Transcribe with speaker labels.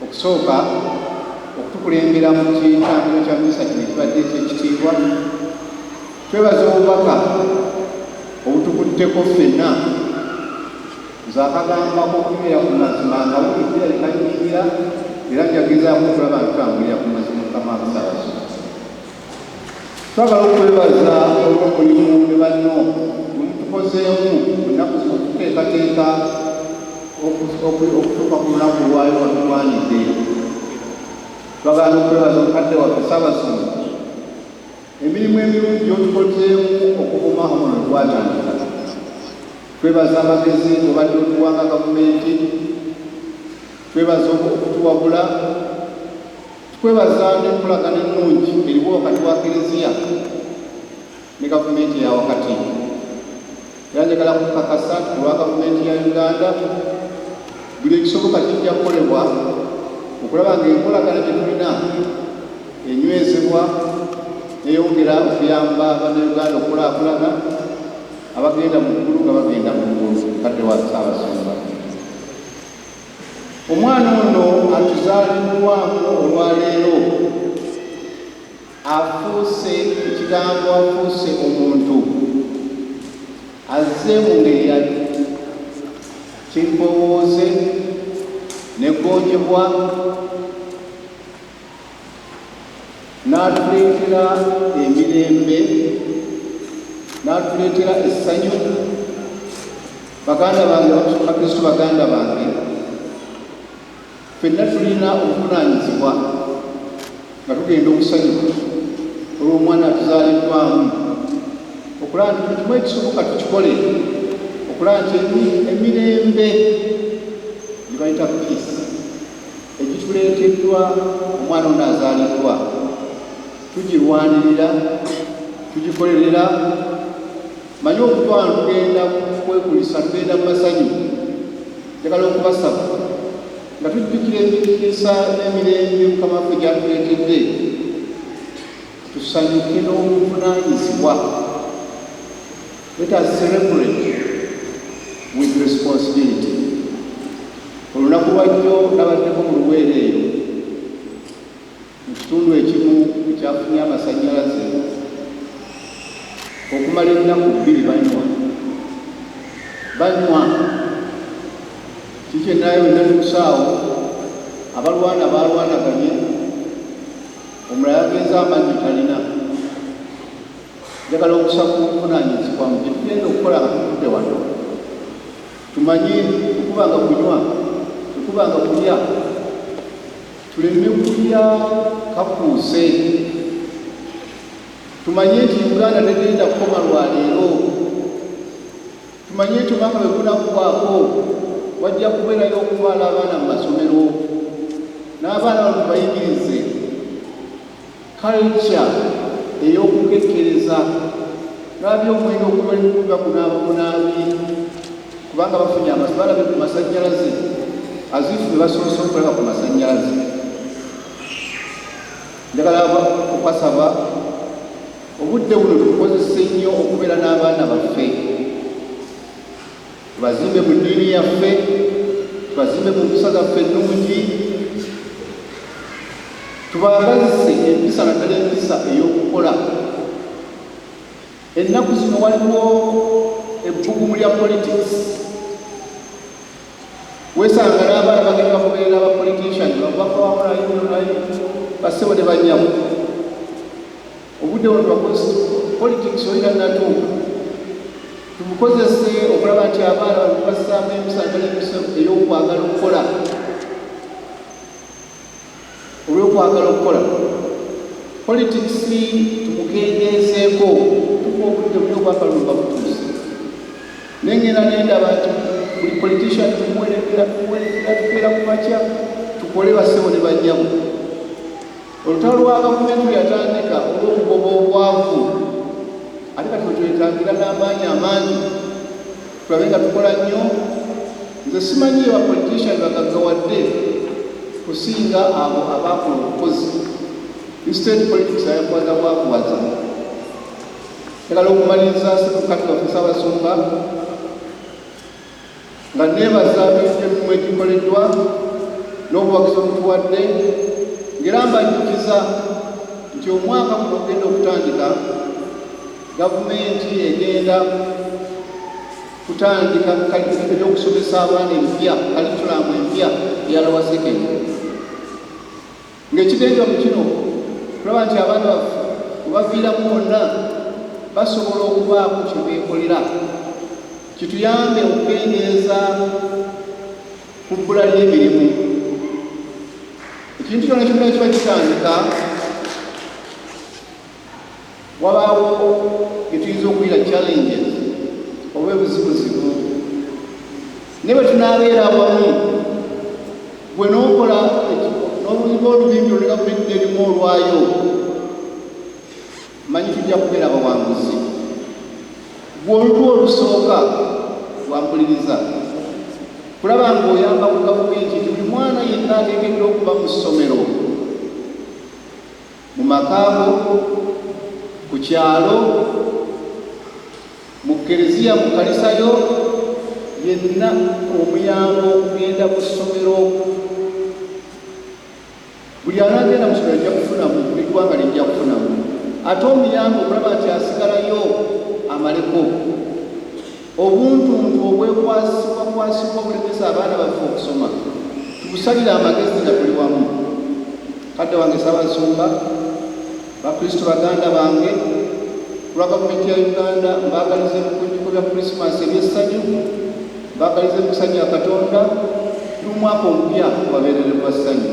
Speaker 1: Okusooka, okutukulembera mu kitambiro kya misa kino ekibadde eky'ekitiibwa, twebaza obubaka obutukutteko ffenna nze akagamba k'okubeera ku mazima nga buligira likanyingira era njagezaako okulaba nti tambulira ku mazima mukama abusabaso Twagala okwebaza olw'omulimu ne banno gwe mutukozeemu mu nnaku zino okuteekateeka okutuuka ku lunaku lwayo watulwanidde. Twagala n'okwebaza omukadde waffe Ssaabasumba emirimu emirungi gy'otukozeemu okuvuma omuno gwatandika. Twebaza amagezi obadde otuwanga gavumenti, twebaza okutuwabula Tukwebaza n'enkolagana ennungi eriwo wakati wa Klezia ne gavumenti eya wakati era njagala kukakasa nti olwa gavumenti ya Uganda buli ekisoboka kijja kukolebwa okulaba ng'enkolagana gye tulina enywezebwa neyongera okuyamba bannayuganda okulakulana abagenda mu ggulu nga bagenda mu ggulu kadde wa ssaabasumba Omwana ono atuzaliddwamu olwaleero afuuse ekigambo, afuuse omuntu, azze mu ngeri ya kimpowooze negonjebwa n'atuleetera emirembe n'atuleetera essanyu baganda bange bakristu baganda bange fenna tulina obuvunaanyizibwa nga tugenda okusanyuka olw'omwana atuzaaliddwamu okulaba nti tukimu ekisoboka tukikole okulaba nti emirembe gye bayita piisi egituleeteddwa omwana ono azaaliddwa tugirwanirira tugikolerera manyi okutwala tugenda kwekulisa tugenda mu masanyu njagala okubasaba nga tujjukira emikisa n'emirembe mukama waffe gyatuleetedde tusanyuke n'obuvunaanyizibwa Let us celebrate with responsibility. Olunaku lwajjo nabaddeko mu luweero eyo mu kitundu ekimu ekyafunye amasannyalaze okumala ennaku bbiri banywa banywa kikye naye wenatuusaawo abalwana balwanaganye omulala agenza amanyi talina Njagala okusaba obuvunaanyizibwa mu bye tugenda okukola nga tuvudde wano. Tumanye tekubanga kunywa, tekubanga kulya, tuleme kulya kakuuse. Tumanye nti Uganda tegenda kukoma lwa leero. Tumanye nti omwaka bwe gunaggwaako wajja kubeerayo okutwala abaana mu masomero n'abaana bano tubayigirize Culture ey'okukekkereza Baabi omwenge ogumali kukuga kunaaba bunaabi kubanga bafunye amasi balabe ku masannyalaze azifu be basoose okulaba ku masannyalaze njagala okukasaba obudde buno tukozese nnyo okubeera n'abaana baffe tubazimbe mu ddiini yaffe tubazimbe mu mpisa zaffe ennungi tubaagazise empisa naddala empisa ey'okukola ennaku zino waliwo ebbugumu lya politics wesanga n'abaana bagenda bakubeera aba politician bakubakowakola yunulayi basebo ne banyamu Obudde wano bakozi politics oli tannatuuka tubukozese okulaba nti abaana bano tubassaamu emisa atali emisa ey'okwagala okukola olw'okwagala okukola politics tumukendeezeeko tuka obudde buli obwakalulu babutuuse naye ngenda nendaba nti buli politician tumuwerekera tuwerekera tukeera ku makya tukole bassebo ne banyabo Olutalo lwa gavumenti luyatandika olw'okugoba obwavu ate kati wetwetagira n'amaanyi amangi tulabe nga tukola nnyo nze simanyi ye bapolitician bagaggawadde kusinga abo abaakola obukozi instead politics ayakuwaza bwakuwaza egala okumaliriza sekukatulafusa abasumba nga neebaza emirimu egikoleddwa n'obuwagizi obutuwadde ng'era mbajjukiza nti omwaka guno ogenda okutandika gavumenti egenda kutandika eby'okusomesa abaana empya kalikulamu empya eyalawasekeni Ng'ekigenza mu kino kulaba nti abaana baffe webaviiramu wonna basobola okubaako kye beekolera kituyambe okukendeeza ku bbula ly'emirimu. Ekintu kyona kyonna kiba kitandika Wabaawo bye tuyinza okuyita challenges oba ebuzibuzibu, naye bwe tunaabeera awamu gwe n'okola n'oluyiga olubimbi luli gavumenti n'erimu olwayo, manyi tujja kubeera abawanguzi. Gwe olulwo olusooka wampuliriza kulaba ng'oyamba ku gavumenti nti buli mwana yenna ateekeddwa okuba mu ssomero mu maka go, ku kyalo, mu kkereziya, mu kkanisa yo, yenna omuyamba okugenda mu ssomero. Buli anagenda mu ssomero ajja kufunamu, buli ggwanga lijja kufunamu. Ate omuyamba okulaba nti asigalayo amaleko. Obuntuntu obwekwasibwakwasibwa obulemesa abaana baffe okusoma tubusalire amagezi nga tuli wamu. Kadde wange Ssabasumba, Bakristu baganda bange, ku lwa Gavumenti ya Uganda mbaagaliza ebikujjuko bya Krisimansi eby'essanyu, mbaagaliza emikisa gya Katonda n'omwaka omupya gubabeerere gwa ssanyu.